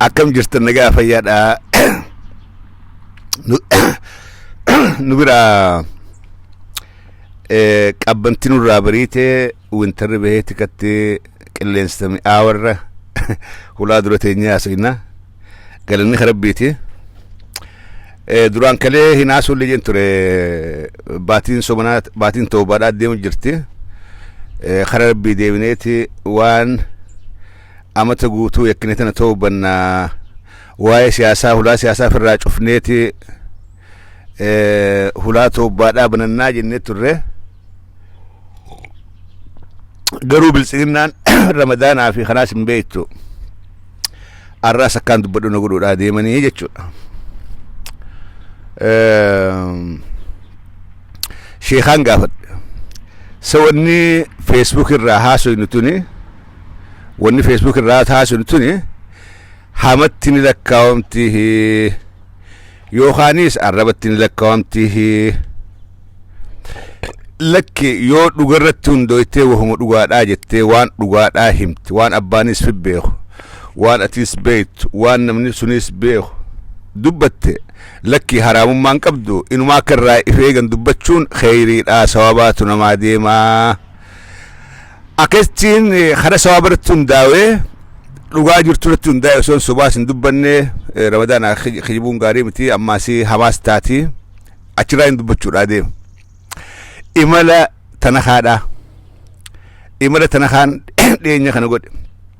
Akkam jirtan nagaa fayyaadha. Nu- Nu biraa eh, qabbanti nurraa bariite wintarri bahee tikatti qilleensa mi'aawarra hulaa dura teenyee haasofna. Galanni kan rabbiiti. Eh, Duraan kalee hin haasofne jeen ture baatiin somanaa baatiin toobaadhaa deemu jirti. Eh, Karaa rabbii deebineeti waan amata guutuu yakkine tana toobanna waa'ee siyaasaa hulaa siyaasaa ofirraa cufneeti eh, hulaa toobbaadhaa banannaa jennee turre garuu biltsiginnaan ramadaanaa fi kanaas hin beektu arraas akkaan dubbadhu na godhuudhaa deemanii jechuudha Ehm, sheekaan gaafadhe sawanni feesbuuk irraa haasoynu tuni wanni feesbuuk irraa taasinu tuni hamatti ni lakkaawamti yookaanis arrabatti ni lakkaawamti lakki yoo dhugarratti hundooytee wahuma dhugaadhaa jettee waan dhugaadhaa himti waan abbaanis fi beeku waan atiis beektu waan namni sunis beeku dubbatte lakki haraamummaan qabdu inumaa akka irraa ifeegan dubbachuun kheyriidhaa sawabaatu namaa deemaa Akkasittiin karaa sawaaba irratti hundaa'ee dhugaa jirtu irratti hundaa'e osoo sobaas hin dubbanne ramadaan kijibuun gaarii miti ammaas hamaas taati achirraa hin dubbachuudhaa deema. Imala tana kaadhaa. Imala tana kaan dhiyeenya kana godhe.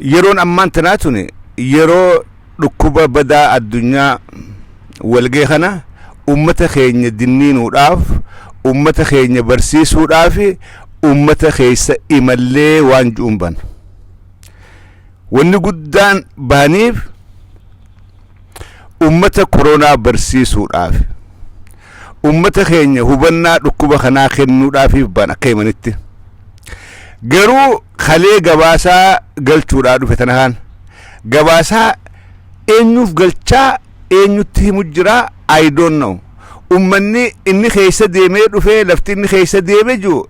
Yeroon ammaan tanaa tuni yeroo dhukkuba badaa addunyaa wal gahe kana ummata keenya dinniinuudhaaf, ummata keenya barsiisuudhaafi ummata keessa imallee waan ju'uun baana. Wanni guddaan baaniif, ummata koronaa barsiisuudhaaf ummata keenya hubannaa dhukkuba kanaa kennuudhaafiif ba'an akka himanitti garuu kalee gabaasaa galchuudhaa dhufe tana kaan gabaasaa eenyuuf galchaa eenyutti himu jira I don't know ummanni inni keessa deemee dhufe lafti inni keessa deeme jiru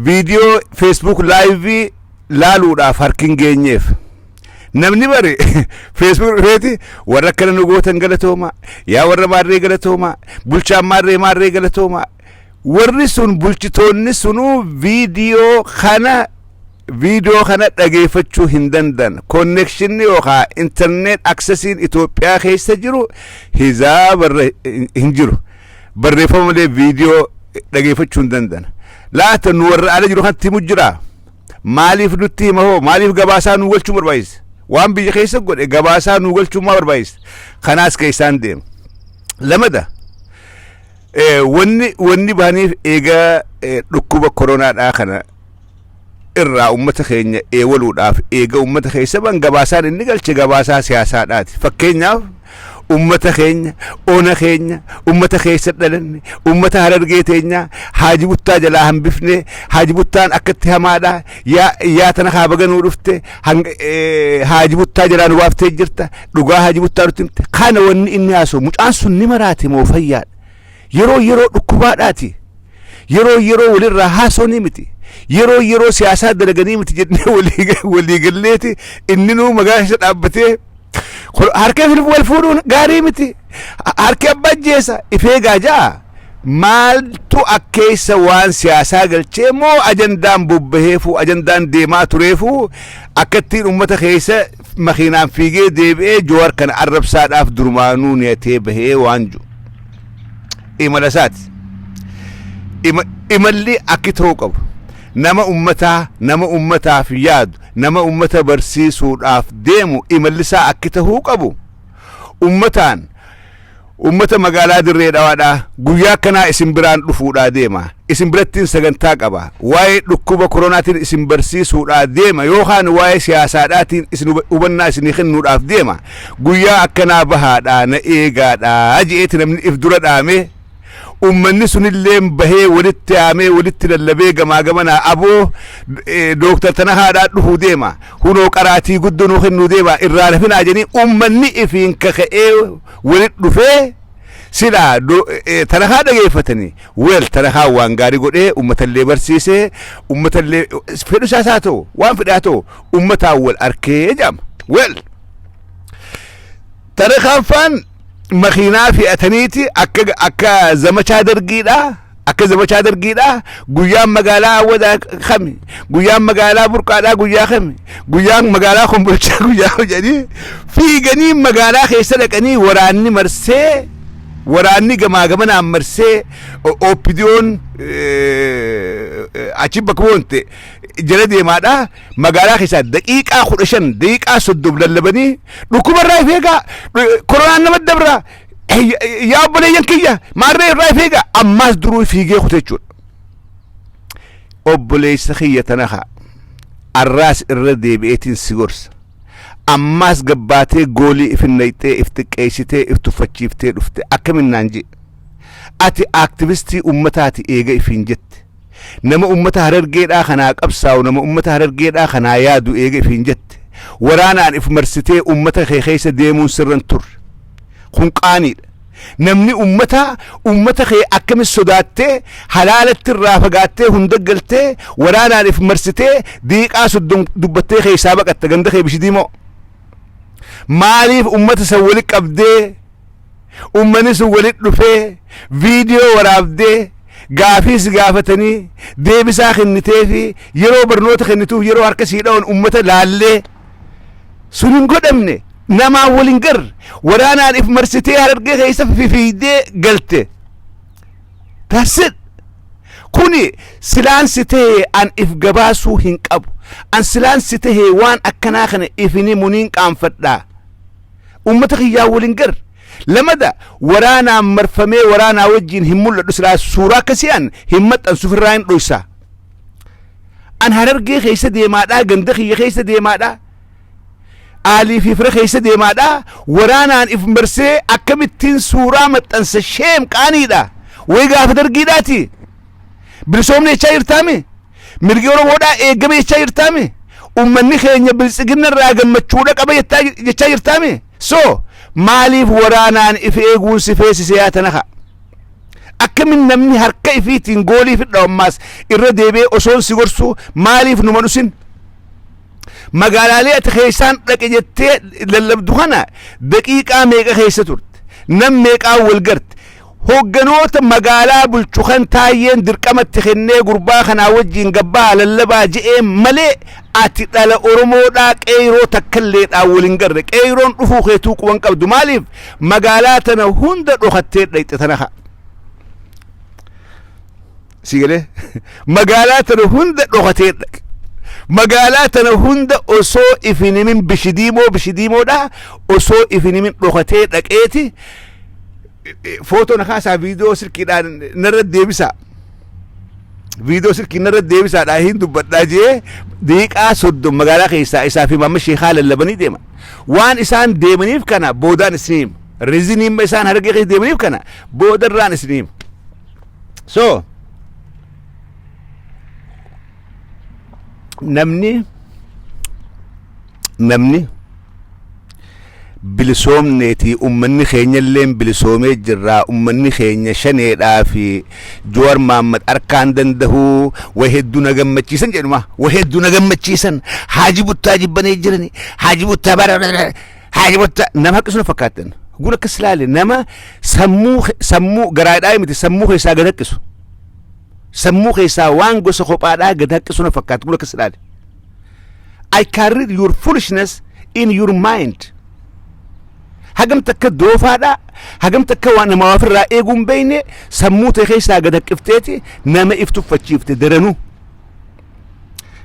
viidiyoo feesbuuk laayivii laaluudhaaf harki hin geenyeef. Namni bare feesbuuk dhufeeti warra akkana nu gootan galatoomaa yaa warra maarree galatoomaa bulchaan maarree maarree galatoomaa warri sun bulchitoonni sunuu viidiyoo kana viidiyoo kana dhageeffachuu hin danda'an konnekshinni yookaan intarneet aksesiin Itoophiyaa keessa jiru hizaa barre hin jiru barreeffama malee viidiyoo dhageeffachuu hin danda'an laata nu warra ala jiru kanatti himu jira Maaliif nutti hima hoo? Maaliif gabaasaa nuu galchuu barbaachisa? Waan biyya keessa godhe gabaasaa nuu galchuun maa barbaachisa? Kanaas keessaan deema. Lamada wanni wanni bahaniif eegaa dhukkuba koronaadhaa kana irraa ummata keenya eewaluudhaaf eega ummata keessa ban gabaasaan inni galche gabaasaa siyaasaadhaati. Fakkeenyaaf ummata keenya ona keenya ummata keessa dhalanne ummata harargee teenyaa haaji buttaa jalaa hambifnee haaji buttaan akkatti hamaadha yaa yaa tana kaa baga nuu dhufte hang- eh, haaji buttaa jalaa nu baaftee jirta dhugaa haaji buttaa nutti himte kana wanni inni haasoo mucaan sun ni maraate moo fayyaadha Yeroo yeroo dhukkubaadhaati. Yeroo yeroo walirraa haasofnii miti. Yeroo yeroo siyaasaa dalaganii miti jennee walii galleeti inninuu magaalaa keessa dhaabbatee harkee filfu wal fuudhuun gaarii miti. Harkee abbaa ajjeesa ifee gaajaa maaltu akkeessa waan siyaasaa galchee moo ajandaan bobbaheefuu ajandaan deemaa tureefuu akkattiin uummata keessa makiinaan fiigee deebi'ee Jowaar kana arrabsaadhaaf durumaanuu niyatee bahee waan jiru imala isaati. Ima- Imalli akki ta'uu qabu nama ummataa nama ummataaf yaadu nama ummata barsiisuudhaaf deemu imalli isaa akki ta'uu qabu ummataan Uummata magaalaa Dirree Dhawaadhaa guyyaa akkanaa isin biraan dhufuudhaa deema. Isin birattiin sagantaa qaba. Waa'ee dhukkuba koronaatiin isin barsiisuudhaa deema yookaan waa'ee siyaasaadhaatiin isin huba- hubannaa isinii kennuudhaaf deema. Guyyaa akkanaa bahaadhaa na eegaadhaa je'eeti namni if dura dhaamee Ummanni sunilleen bahee walitti yaamee walitti lallabee gamaa gamanaa aboo Dooktar tana haadhaa dhufuu deema hunoo qaraatii guddoo nuu kennuu deema irraa hin hafinaa jedhanii ummanni ifiin kaka'ee walitti dhufee silaa do- eh, tarakaa dhageeffatanii weel tarakaa waan gaarii godhee ummatallee barsiisee ummatallee fedhu isaas haa ta'u waan fedhe haa ta'u ummataan wal arkee jedhama weel tarakaan faan makiinaa fe'ataniiti akka akka zamachaa dargiidha akka zamachaa dargiidha guyyaan magaalaa awwadaa kami guyyaan magaalaa burqaadhaa guyyaa kami guyyaan magaalaa kombolchaa guyyaa hojanii fiiganii magaalaa keessa dhaqanii waraanni marsee waraanni gamaa gamanaan marsee o- OPDO'n eh, achi bakka bu'oonte jala deemaadha Magaalaa keessaa daqiiqaa kudha shan daqiiqaa soddom lallabanii dhukkuba irraa if eegaa koronaan nama dabra yaa obboleeyyan kiyya maarree irraa if eegaa ammaas duruu fiigee kute jechuudha. Obboleessa kiyya tanaha arraas irra deebi'eetiin si gorsa. Ammaas gabbaatee goolii if hin naqxee if xiqqeessitee if tuffachiiftee dhufte akkaminnaan jee. Ati aaktivistii uummataati eega ifiin jette. Nama ummata Harargeedhaa kanaa qabsaa'u, nama ummata Harargeedhaa kanaa yaadu eega ifiin jette, waraanaan if marsitee ummata kee keessa deemuun sirra hin turre. Kun qaaniidha. Namni ummataa, ummata kee akkamitti sodaattee, halaalatti irraa fagaattee hunda galtee, waraanaan if marsitee, diiqaa soddom dubbattee keessaa baqatta ganda kee Bishidiimoo. Maaliif ummata san wali qabdee Uummanni sun walitti dhufee viidiyoo waraabdee gaafii si gaafatanii deebisaa kennitee fi yeroo barnoota kennituuf yeroo harka sii dha'uun uummata laallee sun hin godhamne namaa waliin garre waraanaan if marsitee harargee keessa fifiidee galte. That's it. Kuni silaan si ta'e an if gabaasuu hin qabu. An silaan si ta'e waan akkanaa kana ifini muniin qaanfadhaa. Uummata kiyyaa waliin gar. Lamada waraanaan marfamee waraanaa wajjin hin mul'adhu silaa suuraa akkasii an hin maxxansu ofirraa hin dhoysa. An harargee keessa deemaadhaa ganda kiyya keessa deemaadhaa. Aalii fi fira keessa deemaadhaa waraanaan if marsee akkamittiin suuraa maxxansa sheem qaaniidha. Way gaafa dargiidhaati. Bilisoomni jechaa jirtaami. Mirgi Oromoodhaa eegame jechaa jirtaame? Ummanni keenya biltsigina irraa gammachuudha qaba jechaa jirtaame? So maaliif waraanaan if eeguun si feesise yaa tanaha? Akkamin namni harka ifiitiin goolii fidha ammaas irra deebi'ee osoon si gorsuu maaliif numa dhusin? Magaalaalee ati keessaan dhaqe jettee lallabdu kana daqiiqaa meeqa keessa turte? Nam meeqaan wal garte? Hogganoota magaalaa bulchu kan Taayyeen dirqama itti kennee gurbaa kanaa wajjiin gabbahaa lallabaa je'een malee ati dhala Oromoodhaa Qeeyroo takkalleedhaan wal hin garre. Qeeyroon dhufuu keetuu quba hin qabdu. Maaliif magaalaa tana hunda dhokattee dhayxe tana kaa. si galee magaalaa tana hunda dhokatee dhaqe magaalaa tana hunda osoo ifin himin bishidiimoo bishidiimoodha osoo ifin himin dhokatee dhaqeeti footoo na kaasaa viidiyoo silkiidhaan narra deebisaa viidiyoo silkii narra deebisaadhaa hin dubbadhaa jee daqiiqaa soddom magaalaa keessaa isaa fi maamma sheekaa lallabanii deema waan isaan deemaniif kana boodaan isiniim reziniimma isaan hargee keessa deemaniif kana boodarraan isiniim so namni namni bilisoomneetii ummanni keenya illee bilisoomee jirraa ummanni keenya shaneedhaa fi Jowaar Mohaammed harkaan dandahuu wa hedduu na gammachiisan jedhuma wa hedduu na gammachiisan haaji buttaa jibbanee jirani haaji buttaa bara Haaya wanta nama haqqisu na fakkaattan. Gun akkas ilaale nama sammuu ke- sammuu garaadhaa miti sammuu keessaa gad haqqisu. Sammuu keessaa waan gosa kophaadhaa gad haqqisu na fakkaata gun akkas ilaale. I can read your foolishness in your mind. Hagam takka doofaadhaa hagam takka waan nama waa ofirraa eeguu hin beekne sammuu ta'e keessaa gad haqqifteeti nama if tuffachiifte daranuu.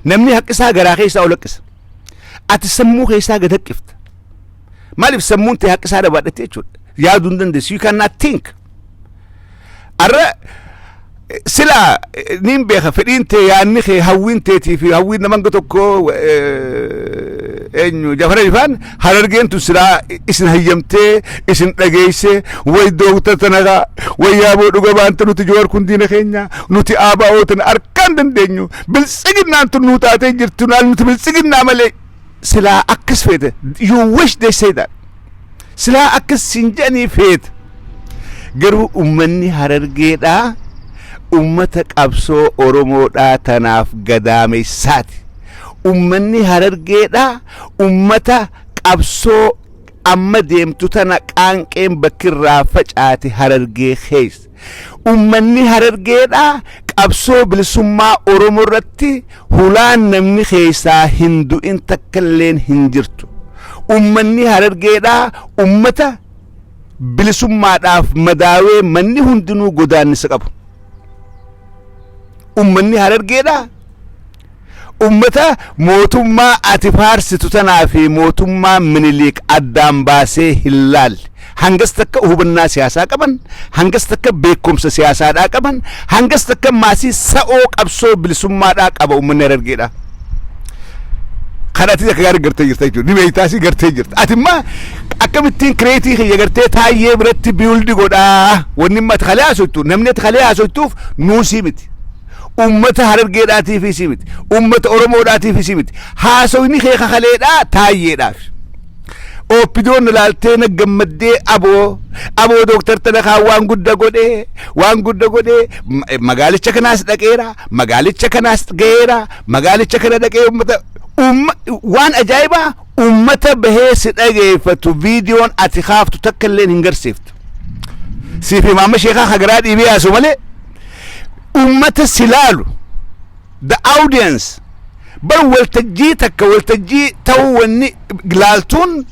Namni haqqisaa garaa keessaa ol haqqisa. ati sammuu keessaa gad haqqifta maaliif sammuun tee haqqisaa dhabaadhatte jechuudha yaaduu hin dandeessu you cannot think arra eh, silaa eh, niin beeka fedhiin tee yaanni kee hawwiin teetii fi hawwiin nama hanga tokko eh, eenyu jafara ifaan harargeen tun silaa i- isin hayyamtee isin dhageeyse way dooktar tanagaa way yaaboo dhuga baanta nuti joowar kun diina keenya nuti aabaa'oo tana arkaan dandeenyu Biltsiginnaan tun nuu taatee jirtu naal nuti biltsiginnaa malee silaa akkas feete you wish they say that silaa akkas siin jedhanii feete garuu ummanni harargeedhaa ummata qabsoo oromoodhaa tanaaf gadaameessaati ummanni harargeedhaa ummata qabsoo amma deemtu tana qaanqeen bakkirraa facaate harargee keessa Ummanni Harargeedhaa qabsoo bilisummaa Oromoo irratti hulaan namni keessaa hin du'in takka illeen hin jirtu. Ummanni Harargeedhaa ummata bilisummaadhaaf madaawee manni hundinuu godaannisa qabu. Ummanni Harargeedhaa Ummata mootummaa ati faarsitu tanaa fi mootummaa Miniliik addaan baasee hin laalle. Hangas takka hubannaa siyaasaa qaban, hangas takka beekumsa siyaasaadhaa qaban, hangas takka maasii sa'oo qabsoo bilisummaadhaa qaba ummanni Harargeedhaa. Kan ati akka gaarii gartee jirta jechuudha. Ni beektaas gartee jirta. Ati immoo akkamittiin kireetii kiyya gartee taayyee biratti biildi godhaa. Wanni immoo ati kalee haasoftu namni ati kalee haasoftuuf nuusii miti. Ummata Harargeedhaatiifis miti. Ummata Oromoodhaatiifis miti. Haasawni kee ka kaleedhaa Taayyeedhaaf. Ooppidoon ilaaltee na gammaddee aboo aboo dooktar Tanakaa waan gudda godhe waan gudda godhe ma- magaalicha kanaas dhaqeera magaalicha kanaas ga'eera magaalicha kana dhaqee ummata umma- waan ajaa'ibaa ummata bahee si dhageeffatu viidiyoon ati kaaftu takka illee hin garsiiftu. Siif imaama sheekaa hagaraa dhiibee yaasu malee ummata si laalu the audience bar waltajjii takka waltajjii ta'uu wanni laaltuun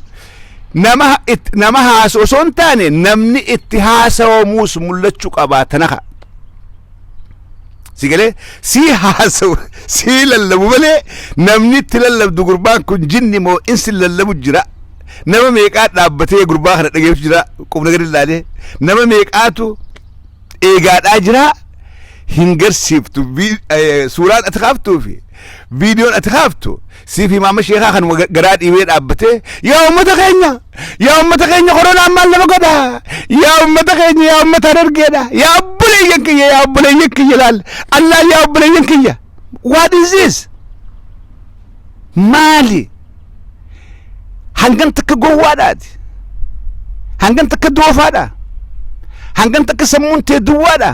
nama it, nama haasu osoo hin taane namni itti haasawamuus mul'achuu qabaa tanaka si galee sii haasawu sii lallabu malee namni itti lallabdu gurbaan kun jinni moo insi lallabu jira nama meeqaa dhaabbatee gurbaa kana dhageessu jira qubna gadi ilaalee nama meeqaatu eegaadhaa jira hin garsiiftu Vi- eh, suuraan ati kaaftuu fi viidiyoon ati kaaftu siif himaama sheekaa kanuma ga- garaa dhiibee dhaabbatee yaa ummata keenya yaa ummata keenya koronaan maal nama godha yaa ummata keenya yaa ummata harargeedha yaa obboleeyyan kiyya yaa obboleeyyan kiyya laal allaa yaa obboleeyyan kiyya What is this? Maali? Hangan takka gowwaadhaati. Hangan takka doofaadha. Hangan takka sammuun tee duwwaadha.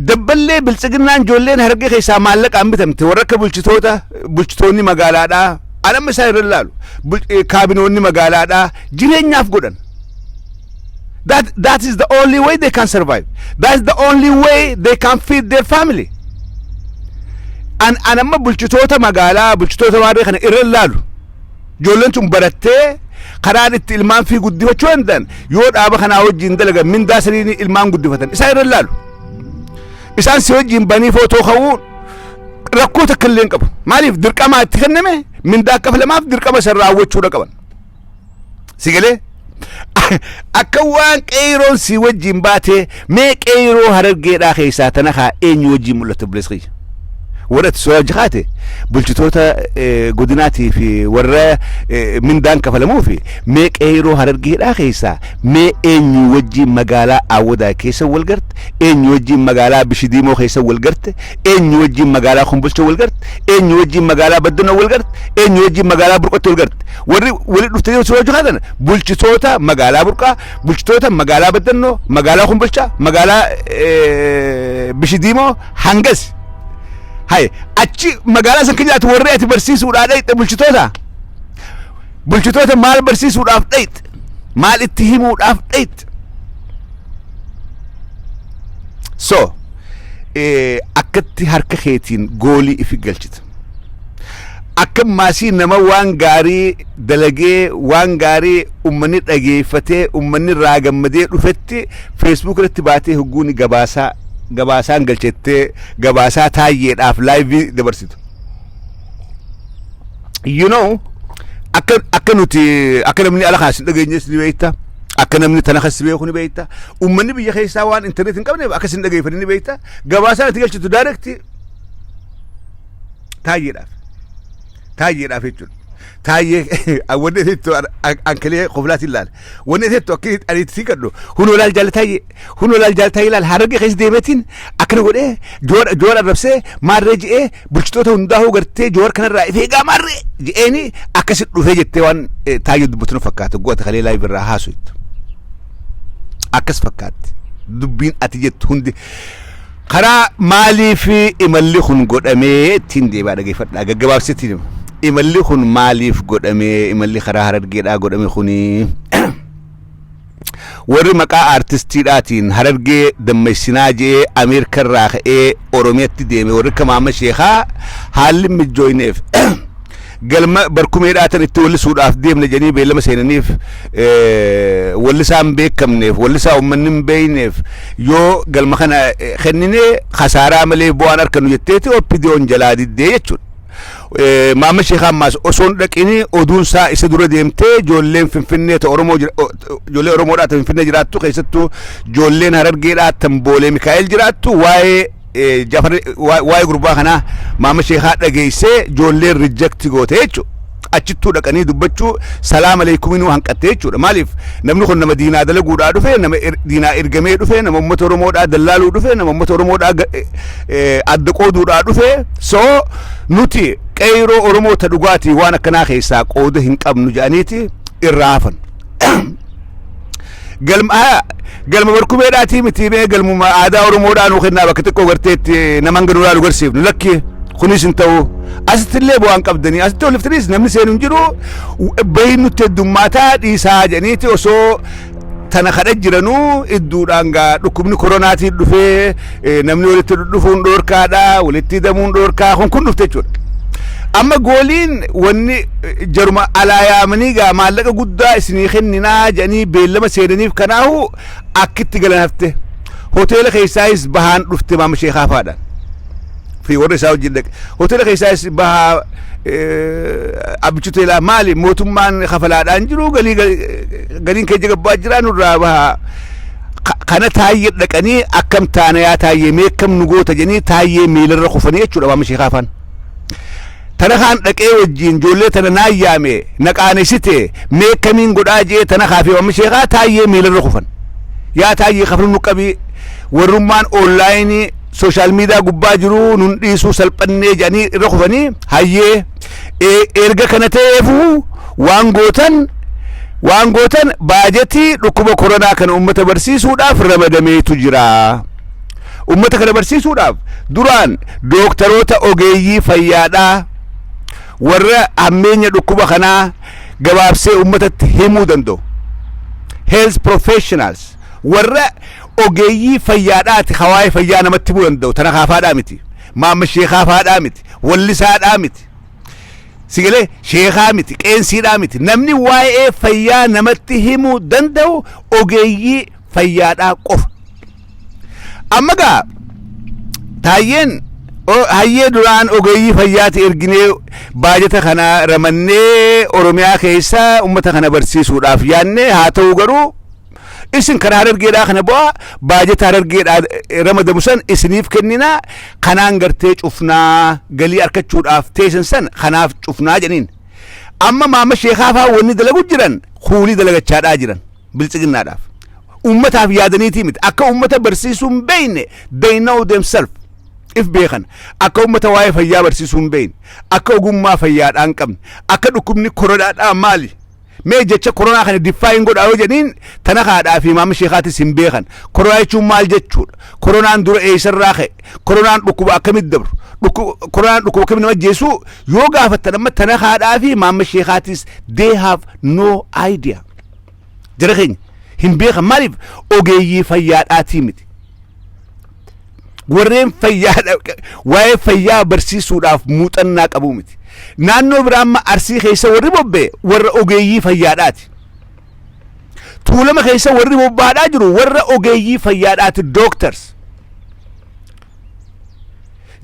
Dabballee biltsiginnaan ijoolleen hargee keessaa maallaqaan bitamte warra akka bulchitoota bulchitoonni magaalaadhaa anamma isaan irra ilaalu bul- eh, kaabinoonni magaalaadhaa jireenyaaf godhan. That, that is the only way they can survive. That's the only way they can feed their family. An, an amma bulchitoota magaalaa, bulchitoota waarree kana irra hin laalu. Ijoolleen tun barattee karaan itti ilmaan fi guddifachuu danda'an yoo dhaaba kanaa wajjin dalagan mindaa saniin ilmaan guddifatan isaan irra hin laalu. Isaan si wajjin banii footoo ka'uu rakkoo takka illee hin qabu. Maaliif dirqamaa itti kenname mindaa akka filamaaf dirqama san raawwachuudha qaban. si galee akka waan qeeyroon si wajjin baatee mee qeeyroo harargeedhaa keessaa tana kaa eenyu wajjin mul'atte obboleessa kiyya warra itti soorajji kaate bulchitoota eh, godinaatii fi warra eh, mindaan kafalamuu fi mee qeeyroo harargeedhaa keessaa mee eenyu wajjin magaalaa awwadaa keessa wal garte eenyu wajjin magaalaa bishidiimoo keessa wal garte eenyu wajjin magaalaa kumbulcha wal garte eenyu wajjin magaalaa baddana wal garte eenyu wajjin magaalaa burqotti wal garte Warri walitti dhuftanii hojii hojii kaatan bulchitoota magaalaa Burqaa, bulchitoota magaalaa Baddannoo, magaalaa Kumbilchaa, magaalaa eh, Bishidiimoo hangas. Haye achi magaalaa san keenyaatti warri ati barsiisuudhaa dhayxe bulchitoota. Bulchitoota maal barsiisuudhaaf dhayxe? Maal itti himuudhaaf dhayxe? So eh, akkatti harka keetiin goolii ifi galchita. Akka maasii nama waan gaarii dalagee waan gaarii ummanni dhageeffatee ummanni irraa gammadee dhufetti feesbuuk irratti baatee hogguun gabaasaa gabaasaan galchettee gabaasaa taayyeedhaaf laayivii dabarsitu. You know akka akka nuti akka namni ala kaas hin dhageenyes ni beekta. Akka namni tana kas beeku ni beekta. Ummanni biyya keessaa waan intarneetii hin qabneef akka isin dhageeffatan ni beekta. Gabaasaan itti galchitu daayirektii Taayyeedhaaf. Taayyeedhaaf jechuudha. Taayyee wanni itti ankilee koflaati ilaal. Wanni itti akka ani itti siqadhu hunoo laal jaal taayyee hunoo laal jaal taayyee laal hararge keessa deemeetiin akkana godhee joora joora arrabsee maarree je'ee bulchitoota hundaa hoo gartee joora kanarraa ifee egaa maarree je'eeni akkasi dhufee jettee waan taayyee dubbatu nu fakkaata goota kalee laa birraa haasuutu. Akkas fakkaatti dubbiin ati jettu hundi Karaa maaliif imalli kun godhamee ittiin deebi'aa dhageeffadhaa gaggabaabsetti hima. Imalli kun maaliif godhame imalli karaa harargeedhaa godhame kuni warri maqaa aartistiidhaatiin harargee dammaysinaa je'ee Ameerika irraa ka'ee Oromiyatti deeme warri akka Maamma Sheekaa haalli mijjooyneef Galma barkumee dhaatan itti wallisuudhaaf deemna jedhanii beellama seenaniif wallisaa hin beekamneef wallisaa uummanni hin beekneef yoo galma kana kennine kasaaraa malee bu'aan argannu jetteeti OPDOn jalaa diddee jechuudha. Maamma Sheekaa ammaas osoo hin dhaqini oduunsaa isa dura deemtee ijoolleen Finfinnee ta Oromoo ijoollee Oromoodhaa ta Finfinnee jiraattu keessattuu ijoolleen Harargeedhaa tan Boolee Mikaa'el jiraattu waa'ee Jafar waa'ee gurbaa kanaa maama sheekaa dhageessee ijoolleen rijakti goote jechuudha. Achittuu dhaqanii dubbachuu salaam aleekuminuu hanqatte jechuudha. Maaliif namni kun nama diinaa dalaguudhaa dhufe nama diinaa ergamee dhufe nama uummata Oromoodhaa dallaaluu dhufe nama uummata Oromoodhaa adda qooduudhaa dhufe soo nuti qeyroo Oromoo ta dhugaatii waan akkanaa keessaa qooda hin qabnu jedhaniiti irraa hafan. Galma haya galma barkumeedhaatii miti mee galmuma aadaa Oromoodhaa nuu kennaa bakka xiqqoo garteetti nama hanga duraa nu garsiifnu lakki kunis hin ta'u. Asitti illee bu'aan qabdanii asitti oliftaniis namni seenu hin jiru bahiin nutti heddummaataa dhiisaa jedhaniiti osoo tana kadha jiranuu idduudhaan gaa dhukkubni koronaatiin dhufee Eh, namni walitti dhufuun dhoorkaadha walitti hidamuun dhoorkaa kun kun dhufte jechuudha amma gooliin wanni eh, jaruma alaa yaamanii gaa maallaqa guddaa isinii kenninaa jedhanii beellama seenaniif kanaahu akkitti galan hafte hoteela keessaayis bahaan dhufte maama sheekaa faadhaan fi warra isaa wajjin dhaqe hoteela keessaayis bahaa eh, abbichi hoteelaa maali mootummaan kafalaadhaan jiru galii gal- galiin keenya gabbaa jira nurraa bahaa Ka- kana taayyee dhaqanii akkam taana yaa taayyee mee akkam nu goota jedhanii taayyee miilarra kufanii jechuudha maama sheekaa afaan tana kaan dhaqee wajjiin ijoollee tana naan yaame na qaanesite mee akkamiin godhaa jee tana kaafee maama sheekaa taayyee miilarra kufan yaa taayyee kafnu nu qabii warrummaan oonlaayinii sooshaal miidiyaa gubbaa jiru nun dhiisuu salphannee jedhanii irra kufanii hayyee E- Erga kana ta'eefuu waan gootan waan gootan baajetii dhukkuba koronaa kana uummata barsiisuudhaaf ramadameetu jira. Uummata kana barsiisuudhaaf duraan dooktaroota ogeeyyii fayyaadhaa warra hammeenya dhukkuba kanaa gabaabsee uummatatti himuu danda'u. health professionals warra ogeeyyii fayyaadhaati hawaa'ee fayyaa namatti himuu danda'u tana kaafaadhaa miti. Maamma sheekaa faadhaa miti, wallisaadhaa miti, sigalee sheekaa miti, qeensiidhaa miti. Namni waa'ee fayyaa namatti himuu danda'u ogeeyyii fayyaadhaa qofa. Amma gaa taayyeen o- hayyee duraan ogeeyyii fayyaati erginee baajata kana ramannee Oromiyaa keessa uummata kana barsiisuudhaaf yaadne haa ta'u garuu isin kan harargeedhaa kana bu'aa baajata harargeedhaa eh, ramadamu san isiniif kenninaa kanaan gartee cufnaa galii arkachuudhaaf teessan san kanaaf cufnaa jedhaniin amma maama sheekaa fa'aa wanni dalagu jiran kuulii dalagachaadhaa jiran biltsiginnaadhaaf ummataaf yaadaniitii miti akka ummata barsiisuu hin beeyne they know themselves if beekan akka ummata waa'ee fayyaa barsiisuu hin beeyne akka ogummaa fayyaadhaa hin qabne akka dhukkubni korodhaadhaa maali Mee jecha koronaa kana define godhaa yoo jedhiin tana haadhaa fi maama sheekaatis hin beekan. Koronaa jechuun maal jechuudha? Koronaan dura eessarraa ka'e? Koronaan dhukkuba akkamitti dabru? Dhukku- Koronaan dhukkuba akkamitti nama ajjeesu? Yoo gaafattan amma tana haadhaa fi maama sheekaatis they have no idea. Jara keenya hin beekan maaliif ogeeyyii fayyaadhaatii miti. warreen fayyaa waa'ee fayyaa barsiisuudhaaf muuxannaa qabu miti. Naannoo biraa amma arsii keessa warri bobba'e warra ogeeyyii fayyaadhaati. Tuulama keessa warri bobba'aa jiru warra ogeeyyii fayyaadhaati doctors.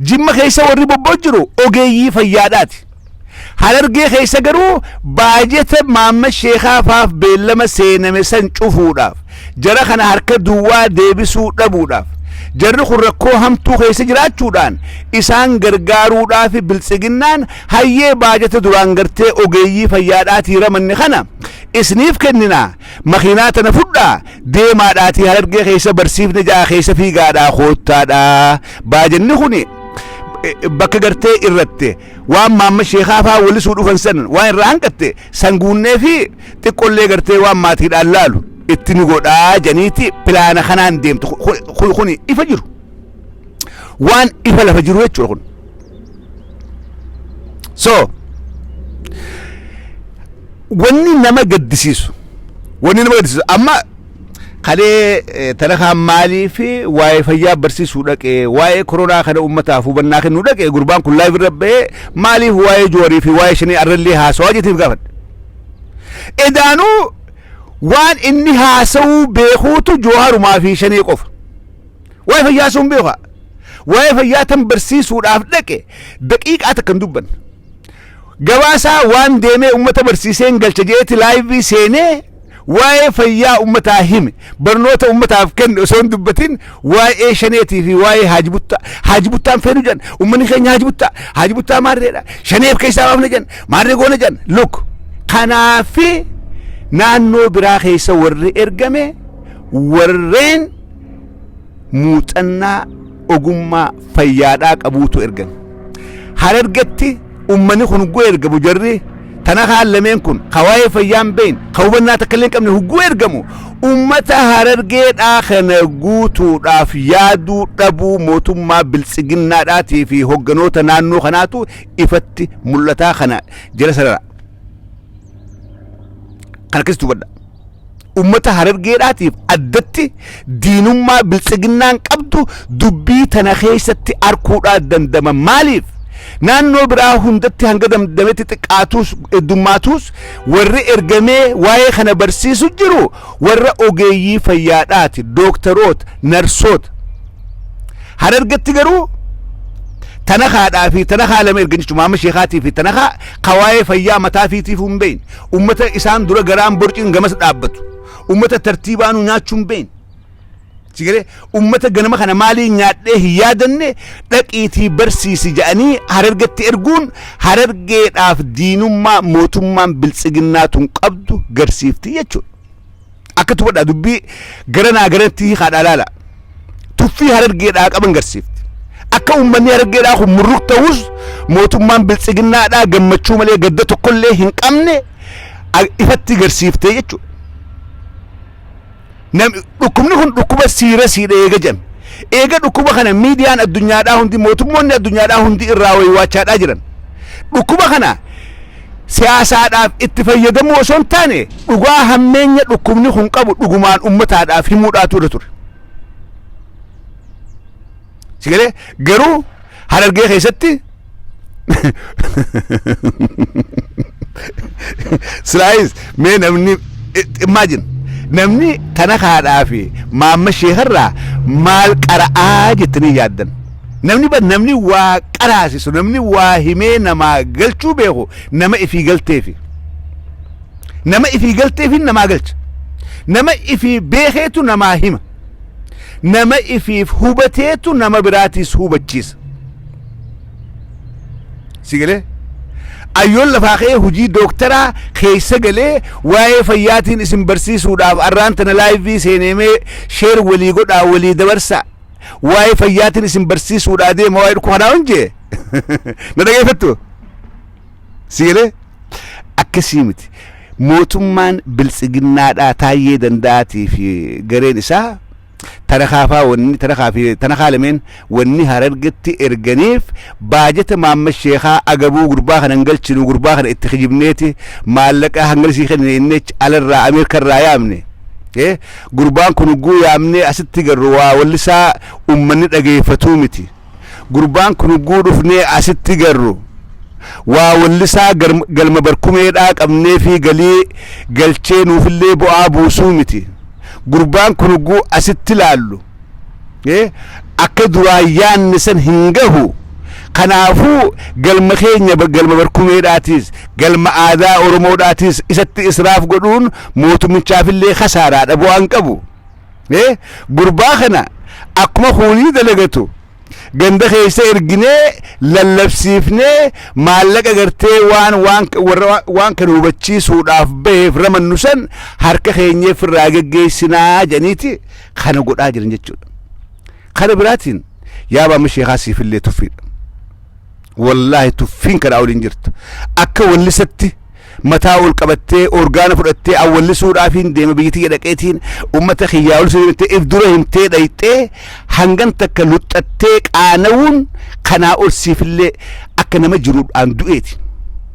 Jimma keessa warri bobba'u jiru ogeeyyii fayyaadhaati. Harargee keessa garuu baajeta Maammed Sheekaa faaf beellama seename san cufuudhaaf, jara kana harka duwwaa deebisuu dhabuudhaaf, jarri kun rakkoo hamtuu keessa jiraachuudhaan isaan gargaaruudhaafi Biltsiginnaan hayyee baajeta duraan gartee ogeeyyii fayyaadhaatii ramanne kana isniif kennina, Makiinaa tana fudhaa deemaadhaatii harargee keessa barsiifne ja'a keessa fiigaadhaa koottaadhaa baajanni kuni bakka gartee irratti waan maamma sheekaa faa walisuu dhufan san waan irraa hanqatte san guunnee fi xiqqollee gartee waan maatiidhaan laalu itti nu godhaa janiiti pilaana kanaan deemtu kuni ifa jiru waan ifa lafa jiru jechuudha kun. so wanni nama gaddisiisu wanni nama gaddisiisu amma kalee eh, tarakaan maalii fi waa'ee fayyaa barsiisuu dhaqe waa'ee koronaa kana uummataaf hubannaa kennuu dhaqe gurbaan kun laayif irra ba'ee maaliif waa'ee joorii fi waa'ee shanii arrallee haasawaa jeetiif gaafadhe edaanuu waan inni haasawuu beekuutu jooharumaa fi shanii qofa Waa'ee fayyaa osoo hin beeku haa. Waa'ee fayyaa tan barsiisuudhaaf dhaqe daqiiqaa takka hin dubbanne. Gabaasaa waan deemee uummata barsiiseen galcha jeeti laayivii seenee waa'ee fayyaa uummataa hime barnoota uummataaf kenne osoo hin dubbatin waa'ee shaneetii fi waa'ee haajibuttaa haajibuttaan feenu jedhan uummanni keenya haajibuttaa haajibuttaa maarreedha shaneef keessaa baafna jedhan maarree goona jedhan luk kanaafi naannoo biraa keessa warri ergame warreen muuxannaa ogummaa fayyaadhaa qabuutu ergame. Harargetti uummanni kun hugguu ergamu jarri tana kaan lameen kun ka waa'ee fayyaa hin beekne ka hubannaa takka illee hin qabne hugguu ergamu uummata harargeedhaa kana guutuudhaaf yaaduu dhabuu mootummaa biltsiginnaadhaatii fi hogganoota naannoo kanaatu ifatti mul'ataa kana jala sarara. Kana keessa hubadha. ummata harargeedhaatiif addatti diinummaa biltsiginnaan qabdu dubbii tana keessatti arkuudhaa dandama maaliif naannoo biraa hundatti hanga damdametti xiqqaatuus heddummaatuus warri ergamee waa'ee kana barsiisu jiru warra ogeeyyii fayyaadhaati dooktaroota narsoota harargetti garuu tana haadhaa fi tana haa lama ergan jechuudha maama sheekaatii fi tana haa kawaa'ee fayyaa mataa fiitiif hin beekne Ummata isaan dura garaan borciin gamas dhaabbatu. Ummata tartiibaanuu nyaachuun beeyin. Sigalee ummata ganama kana maalii nyaadhee hin yaadanne dhaqiitii barsiisi jedhanii harargetti erguun harargeedhaaf diinummaa mootummaan biltsiginnaa tun qabdu garsiifti jechuudha. Akka tubadhaa dubbii gara naa garatti hiikaadhaa laala. Tuffii harargeedhaa qaban garsiifti. Akka uummanni harargeedhaa kun murruk ta'us mootummaan biltsiginnaadhaa gammachuu malee gadda tokkollee hin qabne a- ifatti garsiiftee jechuudha. Nam- dhukkubni kun dhukkuba siirasiidha eega jedhame. Eega dhukkuba kana miidiyaan addunyaadhaa hundi mootummoonni addunyaadhaa hundi irraa waywaachaadhaa jiran. Dhukkuba kana siyaasaadhaaf itti fayyadamuu osoo hin taane dhugaa hammeenya dhukkubni kun qabu dhugumaan ummataadhaaf himuudhaatu irra ture. Sigalee garuu harargee keessatti silaayis mee namni imagine namni tana kaadhaa fi maamma sheekarraa maal qara'aa jettanii yaaddan. Namni bar namni waa qaraasisu namni waa himee namaa galchuu beeku nama ifii galteefi. Nama ifii galteefiin namaa galcha. Nama ifii beekeetu namaa hima. Nama ifiif hubateetu nama biraatiis hubachiisa. Si galee? Ayyoon lafaa ka'ee hojii dooktaraa keessa galee waa'ee fayyaatiin isin barsiisuudhaaf arraan tana laayivii seeneemee sheer walii godhaa walii dabarsaa. waa'ee fayyaatiin isin barsiisuudhaa deema waa'ee dhukkuba kanaa hin jee na dhageeffattu siilee akkasii miti mootummaan biltsiginnaadhaa taayyee danda'aatii fi gareen isaa tarakaafaa wanni tarakaa fi tanakaa lameen wanni harargetti erganiif baajata maamma sheekaa agabuu gurbaa kana hin galchinu gurbaa kana itti kijibneeti maallaqa hangalsii kennine inni alarraa ameerikarraa yaamne Eh, Gurbaan kun ugguu yaamnee asitti garru waa wallisaa ummanni dhageeffatuu miti. Gurbaan kun ugguu dhufnee asitti garru waa wallisaa galma barkumeedhaa qabneefii galii galchee nuufillee bu'aa buusuu miti. Gurbaan kun ugguu asitti laallu. Ee, akka duraa yaanne san hin gahu. Kanaafuu galma keenya ba- galma barkumeedhaatiis, galma aadaa Oromoodhaatiis isatti israaf godhuun mootummichaafillee kasaaraadha bu'aa hin qabu. Ee, gurbaa kana akkuma kuunii dalagatu ganda keessa erginee lallabsiifnee maallaqa gartee waan waan warra waan- waan kana hubachiisuudhaaf baheef ramannu san harka keenyeef irraa geggeessinaa jedhaniiti kana godhaa jiran jechuudha. Kana biraatiin yaa baama sheekaa siifillee tuffiidha. Wallaahi tuffiin kanaa oliin jirtu. Akka wallisatti mataa ol qabattee orgaana fudhattee awwallisuudhaafiin deema biyyi tiyya dhaqeetiin uummata kiyyaa ol seenattee if dura himtee dhayxee hangan takka luxxattee qaana'uun kanaa ol siifillee akka nama jiruudhaan du'eeti.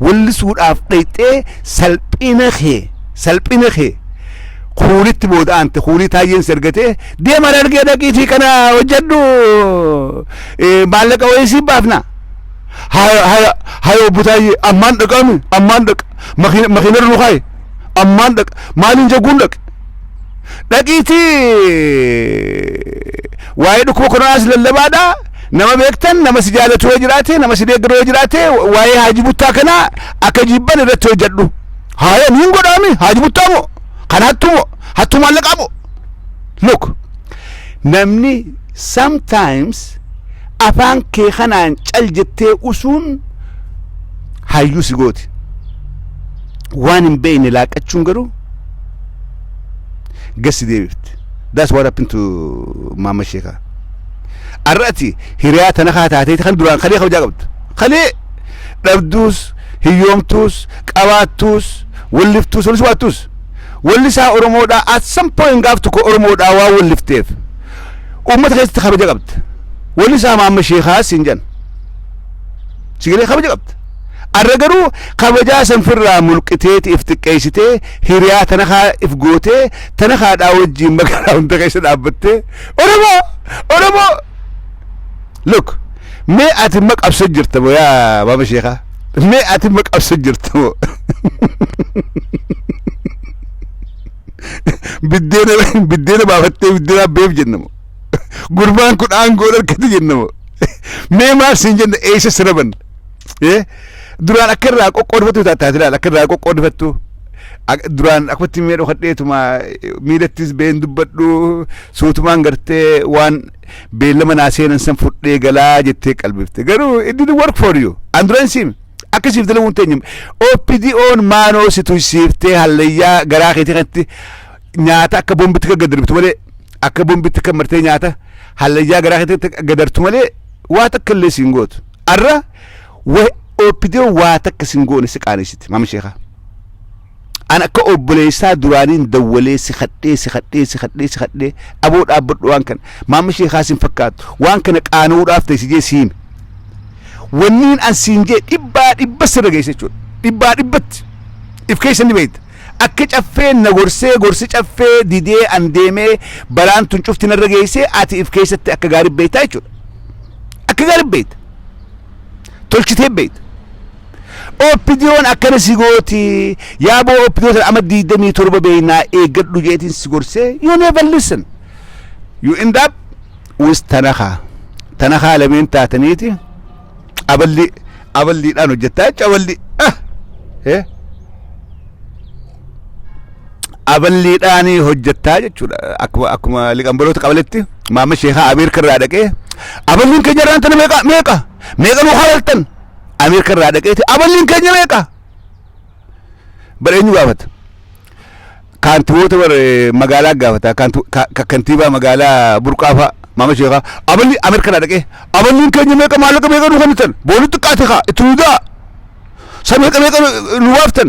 wallisuudhaaf dhayxee salphina kee salphina kee kuunitti booda aante kuunii taayyeen si argatee deema dargee dhaqiitii kana hojjedhu eh, maallaqa wayii siif baafna haya haya haya obbo taayyee ammaan dhaqaami ammaan dhaqa makiina makiina irra nu kaa'i ammaan dhaqa maaliin jagguun dhaqe Dhaqiitii waa'ee dhukkuba koronaas lallabaadhaa nama beektan nama si jaalatu yoo jiraate nama si deeggaru yoo jiraate waa'ee haaji buttaa kanaa akka jibban irratti hojjedhu. Haaya niin godhaami haaji buttaa moo kan hattu moo hattu maallaqaa moo. Look namni sometimes afaan kee kanaan cal jettee usuun hayyuu si gooti. Waan hin beekne laaqqachuun garuu gassi deebifte that's what happened to maamma sheekaa ar'ati hiriyaa tana kaa taatee kan duraan kalee kabajaa qabdu kalee dhabduus hiyyoomtuus qabaattuus walliftuus walis waattuus wallisaa oromoodhaa at some point gaaf tokko oromoodhaa waa wallifteef uummata keessatti kabaja qabda wallisaa maamma sheekaa siin jedhan sigalee kabaja qabda Arra garuu kabajaa san firraa mulqiteeti if xiqqeeysitee hiriyaa tana kaa if gootee tana kaa dhaa wajjiin magaalaa hunda keessa dhaabbattee Oromoo! Oromoo! Look mee ati ma qabsa jirta moo yaa baaba sheekaa? Mee ati ma qabsa jirta moo? Biddeena biddeena baafattee biddeena beef jenna moo? Gurbaan kun aangoon harkatti jenna moo? Mee maaf siin jenna eeysa siraban? Eh, duraan akka irraa qoqqoodfattu taataas ilaal akka irraa qoqqoodfattu Ak- duraan akkatti mee dhokadheetuma eh, miilattis been dubbadhu suutumaan gartee waan beellama naa seenan san fudhee galaa jettee qalbifte garuu it didn't work for you an duraan siim akka siif dalaguun teenya OPDO'n maanoo si tuysiiftee hallayyaa garaa keetii kanatti nyaata akka bombitti kan gadarbitu malee akka bombitti kan martee nyaata hallayyaa garaa keetii gadartu malee waa takka illee siin gootu Arra wa OPDO waa takka sin goone si qaanessite maama sheekaa. An akka obboleessaa duraaniin dawwalee si kadhee si kadhee si kadhee si kadhee aboo dhaabbadhu waan kana maama sheekaa sin fakkaatu waan kana qaana'uudhaaf ta'e si jee si hime. Wanniin an siin jee dhibbaa dhibba sirra geesse jechuudha. Dhibbaa dhibbatti if keessa ni beekta. Akka caffeen na gorsee gorsi caffee didee an deemee balaan tun cufti narra geessee ati if keessatti akka gaarii beektaa jechuudha. akka gaarii beekta tolchitee beekta OPDOn akkana si gooti yaaboo OPDO sana amma digdamii torba beeknaa eeggadhu jeetiin si gorsee you never listen you end up with tanakaa tanakaa lameen taataniiti aballi aballiidhaan hojjettaa jecha aballi ah eh aballiidhaan hojjettaa jechuudha. Akkuma akkuma liqambaloota qabaletti maamma sheekaa Ameerika irraa dhaqee aballiin keenya irraan tana meeqa meeqa meeqa nu halaltan Ameerika irraa dhaqeeti aballiin keenya meeqa bara eenyu gaafata kaantiboota bara magaalaa gaafata kaantu- ka- ka- kantiibaa magaalaa burqaafaa maamma sheekaa aballi Ameerika irraa dhaqee aballiin keenya meeqa maallaqa meeqa nu kennitan boolii xiqqaate kaa itti hundaa sa meeqa meeqa nu baaftan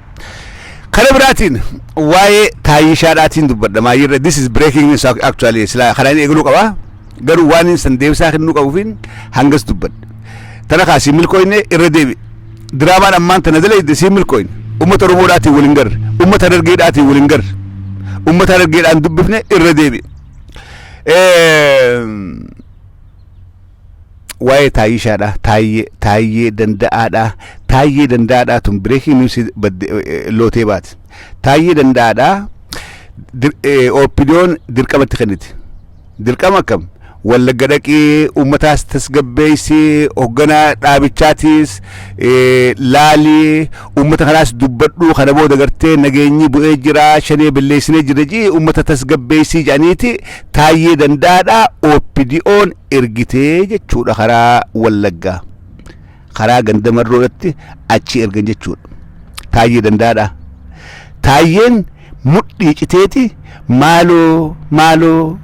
Kana biraatiin waa'ee taayyishaadhaatiin dubbadha maayirra this is breaking news ac- actually silaa kanaan eegaluu qaba garuu waan inni san deebisaa kennuu qabuufiin hangas dubbadha. Tana kaa siin milkooyne irra deebi. Diraamaan ammaan tana dalayde siin milkooyne uummata Oromoodhaatiin waliin garre uummata dargeedhaatiin waliin garre uummata dargeedhaan dubbifne irra deebi. Eh, waa'ee taayishaadha taayyee taayyee danda'aadha taayyee danda'aadha tun bireekiin niwusi badde lootee baate taayyee danda'aadha dir- eh, oppidoon dirqamatti kennite dirqama akkam wallagga dhaqii uummataas tasgabbeessi hoogganaa dhaabichaatiis eh, laalii uummata kanaas dubbadhuu kana booda gartee nageenyi bu'ee jira shanee balleessinee jira jii uummata tasgabbeessii jedhaniiti Taayyee Danda'aadhaa OPDOn ergitee jechuudha karaa Wallaggaa. Karaa ganda marroodhatti achi ergan jechuudha. Taayyee Danda'aadhaa. Taayyeen mudhii citeeti maaloo maaloo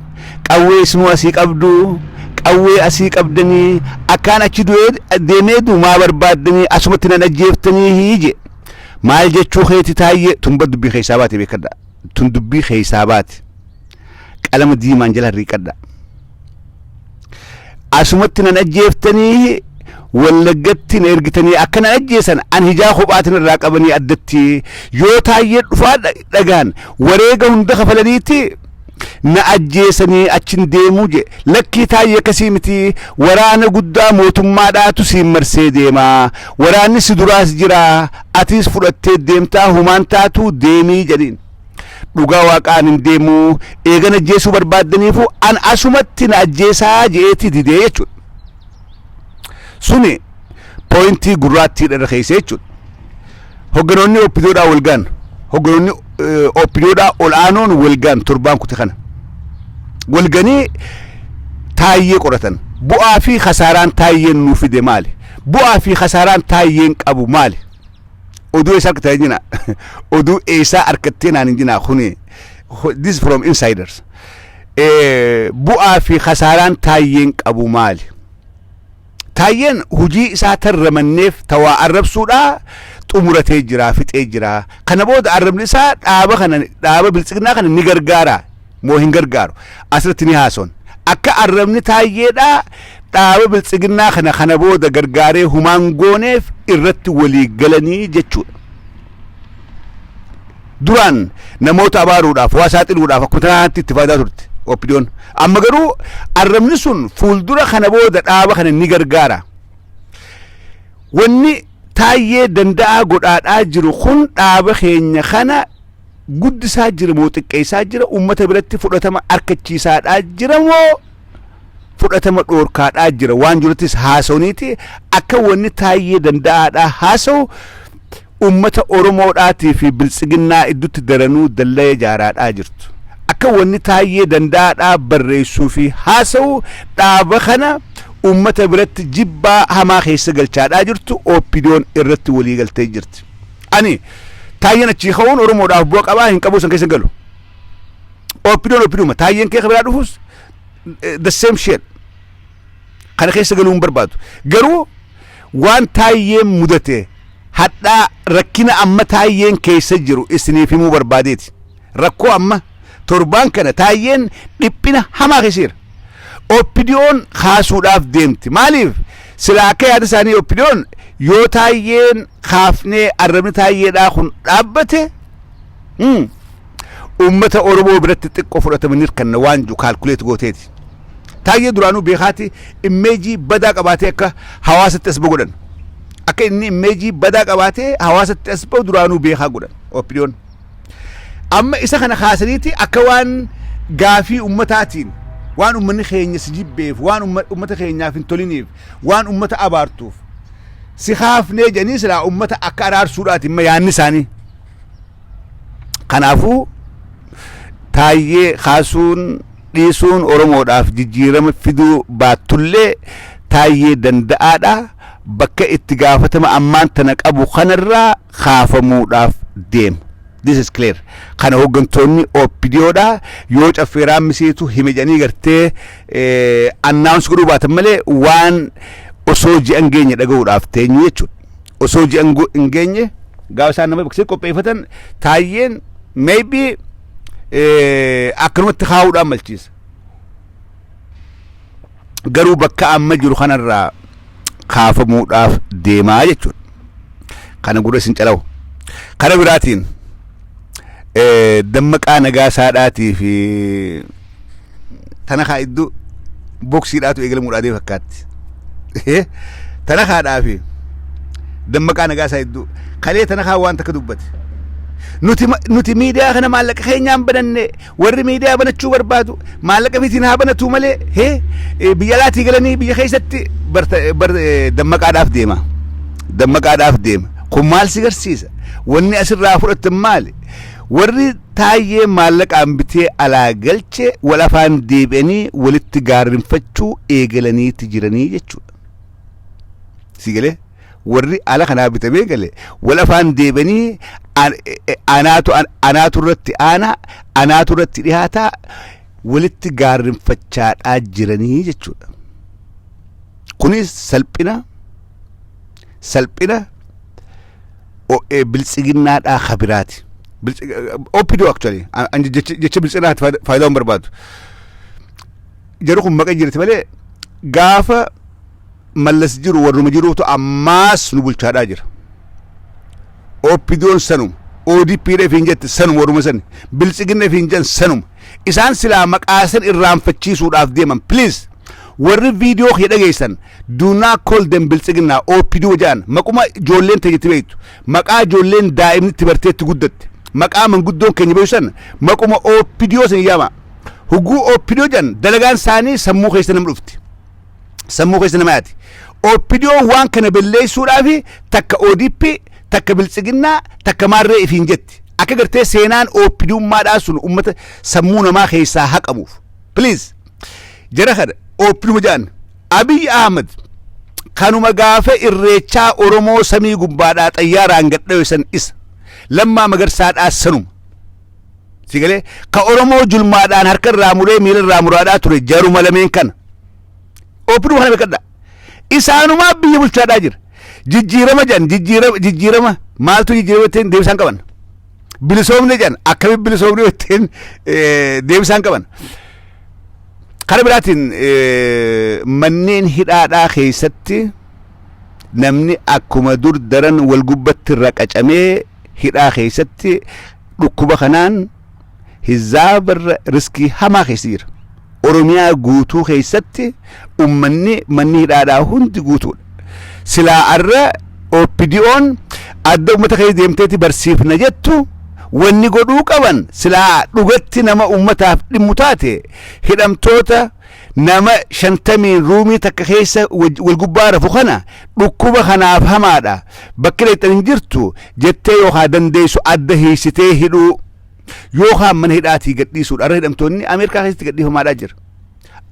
qawwee isinuu asii qabdu qawwee asii qabdanii akkaan achi du'ee deemee du maa barbaaddanii asumatti nan ajjeeftanii hiije. Maal jechuu keeti taayyee tun bar dubbii keessaa baate beekadha. Tun dubbii keessaa baate. qalama diimaan jala harriiqadha. Asumatti nan ajjeeftanii wallaggatti na ergitanii akka na ajjeesan an hijaa kophaatiin irraa qabanii addatti yoo taayyee dhufaa dha- dhagaan wareega hunda kafalaniiti na ajjeesanii achin deemuu je lakkii taayyee akkasii miti waraana guddaa mootummaadhaatu siin marsee deemaa waraanni si duraas jira atiis fudhattee deemtaa humaan taatuu deemii jedhiin. Dhugaa waaqaa ani hin deemu eegan ajjeesuu barbaaddaniifu an asumatti na ajjeesaa je'eeti didee jechuudha. Suni pooyintii gurraattiidha irra keessa jechuudha. Hogganoonni oppidoodhaa wal gaan hogganoonni oppidoodhaa ol aanoon wal gaan torbaan kute kana wal ganii taayyee qoratan bu'aa fi kasaaraan taayyeen nuu fide maali bu'aa fi kasaaraan taayyeen qabu maali oduu eessaa argattee jina oduu eessaa argattee naan hin jinaa kuni ho- this from insiders Eh, bu'aa fi kasaaraan taayyeen qabu maali taayyeen hujii isaa tarramanneef tawaa arrabsuudhaa xumuratee jira fixee jira kana booda arrabni isaa dhaaba kana dhaaba biltsignaa kana ni gargaara moo hin gargaaru? Asirratti ni haasofna. Akka arrabni Taayyeedhaa dhaaba Biltsiginnaa kana kana booda gargaaree humaa hin gooneef irratti walii galanii jechuudha. Duraan namoota abaaruudhaaf, waa saaxiluudhaaf akkuma tanaatti itti faayidaa turte OPDOn. Amma garuu arrabni sun fuuldura kana booda dhaaba kana ni gargaara. Wanni Taayyee danda'aa godhaadhaa jiru kun dhaaba keenya kana guddisaa jira moo xiqqeessaa jira uummata biratti fudhatama arkachiisaadhaa jira moo fudhatama dhoorkaadhaa jira waan jirutis haasawniiti akka wanni taayyee danda'aadhaa haasawu uummata oromoodhaatii fi biltsiginnaa iddutti daranuu dallaya jaaraadhaa jirtu akka wanni taayyee danda'aadhaa barreessuu fi haasawu dhaaba kana uummata biratti jibbaa hamaa keessa galchaadhaa jirtu oppidoon irratti walii galtee jirti. Ani taayyeen achii ka'uun Oromoodhaaf bu'a qabaa hin qabuu san keessa galu. Oppidoon oppiduma taayyeen kee biraa dhufus the same shit. Kana keessa galuu hin barbaadu. Garuu waan taayyeen mudate hadhaa rakkina amma taayyeen keessa jiru isiniif himuu barbaadeeti. Rakkoo amma torbaan kana taayyeen dhiphina hamaa keessa jira. Oppidiyoon kaasuudhaaf deemti. Maaliif? Silaa akka yaada isaanii oppidiyoon yoo taayyeen kaafnee arrabni taayyeedhaa kun dhaabbate hmm, uummata Oromoo biratti xiqqoo fudhatama ni hirkanna waan jiru kaalkuleet gooteeti. Taayyee duraanuu beekaati immeejii badaa qabaatee akka hawaasatti as ba'u godhan. Akka inni immeejii badaa qabaatee hawaasatti as ba'u duraanuu beekaa godhan. Opiniyoon. Amma isa kana kaasaniiti akka waan gaafii ummataatiin waan ummanni keenya si jibbeef waan umma- ummata keenyaaf hin toliniif waan ummata abaartuuf si kaafnee jedhanii silaa ummata akka araarsuudhaati imma yaanni isaanii. Kanaafuu taayyee kaasuun dhiisuun Oromoodhaaf jijjiirama fiduu baattullee taayyee danda'aadha bakka itti gaafatama ammaan tana qabu kanarraa kaafamuudhaaf deema. This is clear. Kana hooggantoonni OPDOdha yoo caffeeraan miseetu hime jedhanii gartee annaawunsi godhuu baatan malee waan osoo ji'a hin geenye dhaga'uudhaaf teenyu jechuudha. Osoo ji'a hin go- hin geenye gaafa isaan nama beeksisee qopheeffatan taayyeen maybe eh, akkanumatti kaa'uudhaan malchiisa. Garuu bakka amma jiru kanarraa kaafamuudhaaf deemaa jechuudha. Kana gurra isin calawu. Kana biraatiin eh, dammaqaa nagaasaadhaatii fi tana kaa iddoo boksiidhaatu eegalamuudhaa dee fakkaatti. Tana kaadhaa fi dammaqaa nagaa isaa iddoo kalee tana kaa waan takka dubbate. Nuti ma- nuti miidiyaa kana maallaqa keenyaan bananne warri miidiyaa banachuu barbaadu maallaqa mitiin haa banatu malee hee eh, biyya alaatii galanii biyya keessatti barta bar eh, dammaqaadhaaf deema. Dammaqaadhaaf deema. Kun maal si garsiisa? Wanni asirraa fudhattan maali? Warri Taayyee maallaqaan bitee alaa galche wal afaan deebi'anii walitti gaarrinfachuu eegalaniiti jiranii jechuudha. Si galee warri ala kanaa bitamee gale wal afaan deebi'anii an- e- e- anaatu an- anaatu irratti aanaa anaatu irratti dhihaataa walitti gaarrinfachaadhaa jiranii jechuudha. Kunis salphina salphina OA biltsiginnaadhaa ka biraati. Biltsi- eh, OPDO actually. An- an jecha jecha biltsinaatti faayida- faayidaa hin barbaadu. Jarri kun maqaa jirti malee gaafa mallas jiru warruma jiruutu ammaas nu bulchaadhaa jira. OPDOn sanuma. ODPdhaaf hin jette sanuma warruma sani. Biltsiginnaaf hin jan sanuma. Isaan silaa maqaa san irraanfachiisuudhaaf deeman please warri video kiyya dhageessan do not call them biltsiginna opdo ja'an maquma ijoolleen teenya itti beektu maqaa ijoolleen daa'imni itti bartee itti guddatte maqaa manguddoon keenya beeku san maquma opdo san yaama hugguu opdo ja'an dalagaan isaanii sammuu keessa nam dhufti sammuu keessa nama yaati. Oppidiyoon waan kana belleessuudhaaf takka ODP, takka biltsiginnaa, takka maarree ifiin jetti. Akka gartee seenaan oppidummaadhaa sun uummata sammuu namaa keessaa haqamuuf. Please jara kana oppiduma jedhan Abiy Ahmed kanuma gaafa irreechaa Oromoo samii gubbaadhaa xayyaaraan gadhawesan isa lammaa magarsaadhaa sanuma. Si galee ka Oromoo julmaadhaan harka irraa muree miila irraa muraadhaa ture jaruma lameen kana. Oopiduu kana beekadha. Isaanumaa biyya bulchaadhaa jira. Jijjiirama jedhan jijjiirama jijjiirama maaltu jijjiirama ittiin deebisaan qaban. Bilisoomne jedhan akkamitti bilisoomne ittiin eh, deebisaan qaban. Kara biraatiin eh, manneen hidhaadhaa keessatti namni akkuma dur daran wal gubbatti raqacamee hidhaa keessatti dhukkuba kanaan hizaabarra riskii hamaa keessa jira. Oromiyaa guutuu keessatti ummanni manni hidhaadhaa hundi guutuudha. Silaa arra OPDO'n adda ummata keessa deemteeti barsiifna jettu wanni godhuu qaban silaa dhugatti nama ummataaf dhimmu taate hidhamtoota Nama shantamiin ruumii takka keessa waj- wal gubbaa rafu kana dhukkuba kanaaf hamaadha. Bakki dhaqxan hin jirtu jettee yookaan dandeessu adda hiisitee hidhuu yookaan mana hidhaatii gadhiisuudha. Har'a hidhamtoonni Ameerikaa keessatti gadhiifamaadhaa jira.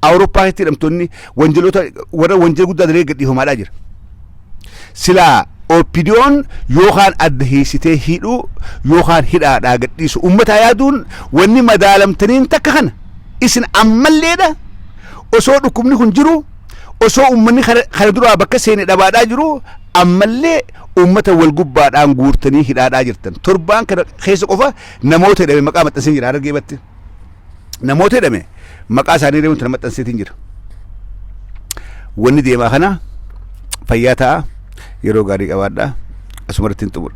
Awurooppaa keessatti hidhamtoonni wanjaloota warra wanjala guddaa dalee gadhiifamaadhaa jira. Silaa OPDOn yookaan adda hiisitee hidhuu yookaan hidhaadhaa gadhiisu uummataa yaaduun wanni madaalamtaniin takka kana. Isin ammalleedha osoo dhukkubni kun jiru osoo uummanni kana kana duraa bakka seene dhabaadhaa jiru ammallee uummata wal gubbaadhaan guurtanii hidhaadhaa jirtan. Torbaan kana keessa qofa namoota hidhame maqaa maxxanseen jira Harargee batte. namoota jedhame maqaa isaanii illee wanti na maxxanseetiin jira. Wanni deemaa kana fayyaa ta'a yeroo gaarii qabaadha asuma irratti hin xumura.